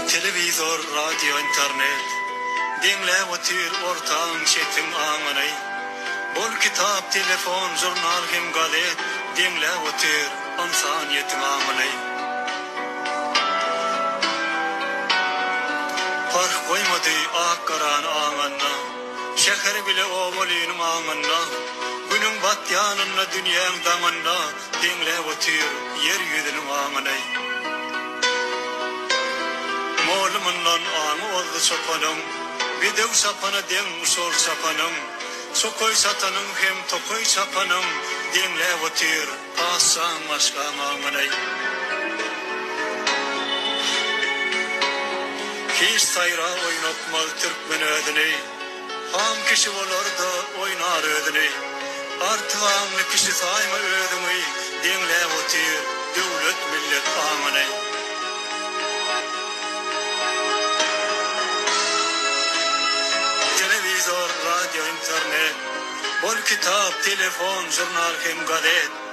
Telewizor, radio, internet, Deňläp otyr ortaň, çetiň, aňyny. Bol kitap, telefon, žurnal hem gazet, Deňläp otyr ynsan ýetiň aňyny. Parh goýmady ak-garany aňanda, Şäher bile obalynyň aňynda. Günüň batýanynda, dünýäň daňynda, Deňläp otyr ýer ýüzüniň aňyny. Moly mundan aňy ozdy çopanyň, Bedew çapana deň şol çapanyň. Çokaý çatanyň hem tokaý çapanyň, Deňläp otyr paşşaň maşgaň aňyny. Hiç saýra oýnatmaz türkmen özüni. Aň kişi bolar-da oýnar özüni, Artyk aňly kişi saýma özüňi, Deňläp otyr döwlet millet aňyny. Telewizor, radio, internet, Bol kitap, telefon, žurnal hem gazet,